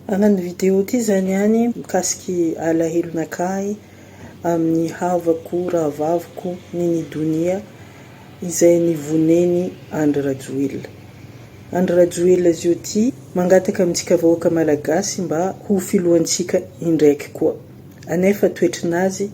Araka ny video ity izany ihany, mikasika alahelo nakà ahy amin'ny havako rahavaviko Nini Donia izay nivonen'i Andry Rajoelina. Andry Rajoelina Zioty mangataka amintsika vahoaka Malagasy mba ho filohantsika indraiky koa. Anefa toetrinazy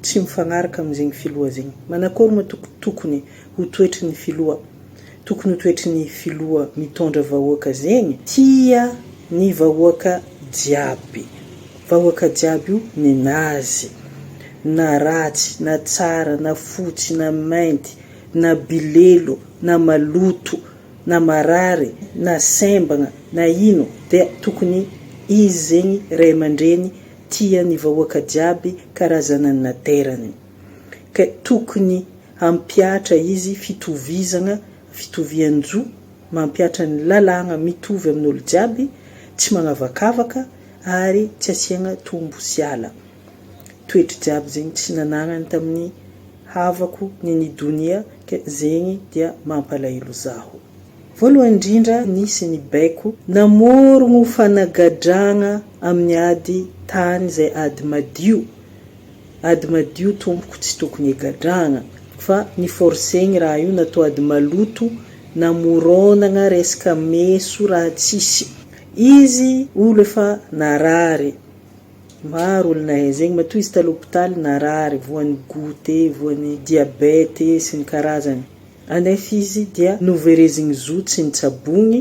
tsy mifagnaraka amin'izegny filoha zegny. Manakôry moa tokony ho toetry ny filoha. Tokony ho toetry ny filoha mitondra vahoaka zegny tia ny vahoaka jiaby. Vahoaka jiaby io ninazy. Na ratsy na tsara na fotsy na mainty na bilelo na maloto na marary na sembagna na ino dia tokony izy zegny ray amandreny tia ny vahoaka jiaby karazana naterany. Ka tokony Hampihatra izy fitovizagna, fitovian-jo, mampihatra ny lalàgna mitovy amin'olo jiaby, tsy magnavakavaka ary tsy asiagna tombo sy ala. Toetry jiaby zegny tsy nanagnany tamin'ny havako ny ny donia ka zegny dia mampalahelo zaho. Voalohany indrindra nisy ny baiko namorogno fanagadragna amin'ny ady tany zay ady madio Ady madio tompoko tsy tokony egadrahagna fa ni forcegny raha io natao ady maloto namoronagna resaka meso raha tsisy izy olo efa narary maro olo nahay zegny matoa izy talo hopitaly narary voany goutte voany diabete sy ny karazany anefa izy dia noverezigny zo tsy nitsabogny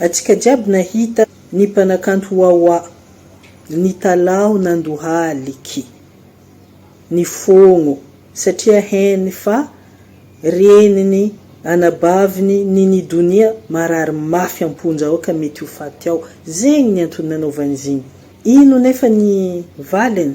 Antsika jiaby nahita ny mpanakanto Wawa, nitalaho nandohaliki ny fogno satria heny fa reniny anabaviny Nini Donia marary mafy amponja ao ka mety ho faty ao. Zegny ny antony nanaovany izigny. Ino nefa ny valiny?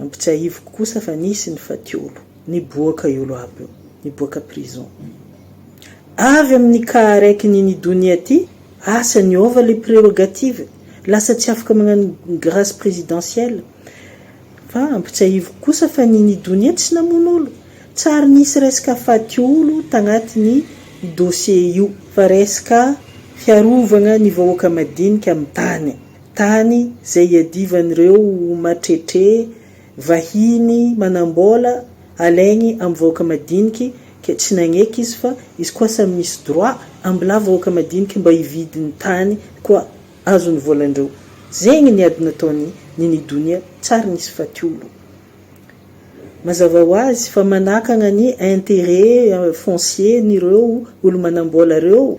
Ampitsiahiviko kosa fa nisy ny fatiolo niboaka io loaby io, niboaka prison. Avy amin'ny cas raiky ny ny donia ty, asa niova le prerogative, lasa tsy afaka magnano grace presidentielle. Fa ampitsiahiviko kosa fa ny ny donia tsy namono olo, tsary nisy resaka fatiolo tagnaty ny dossier io, fa resaka fiarovagna ny vahoaka madinika amin'ny tany. Tany izay iadivan'ireo matretré vahiny manambola alaigny am vahoaka madiniky ke tsy nagneky izy fa izy koa samy misy droit ambla vahoaka madiniky mba hividy ny tany koa azo ny volandreo zegny ny ady nataony ny ny donia tsary nisy faty olo mazava ho azy fa manakagna ny interêt foncier nireo olo manambola reo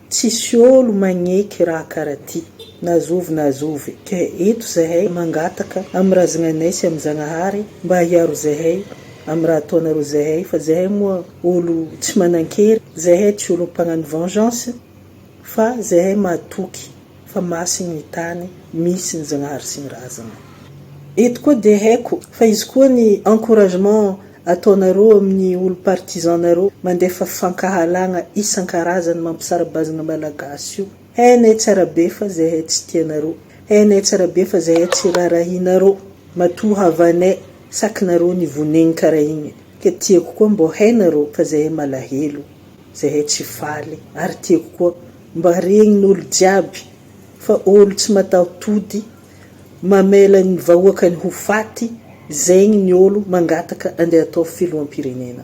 Tsisy olo magneky raha kara ty. Na zovy na zovy. Ka eto zahay mangataka am razagnanay sy am Zagnahary mba hiaro zahay am raha ataonareo zahay fa zahay moa olo tsy manankery, zahay tsy olo mpagnano vengeance fa zahay matoky fa masin ny tany misy ny Zanahary sy ny razana. Eto koa dia haiko fa izy koa ny encouragement ataonareo amin'ny olo partisan nareo mandefa fankahalagna isan-karazany mampisara-bazana malagasy io. Hainay tsara be fa zahay tsy tianareo. Hainay tsara be fa zahay tsy rarahinareo. Matoa havanay sakinareo nivonegny karaha igny. Ka tiako koa mbô hainareo fa zahay malahelo. Zahay tsy faly ary tiako koa mba regnin olo jiaby fa olo tsy mataho tody mamela ny vahoakany ho faty zegny ny olo mangataka andeha atao filohampirenena.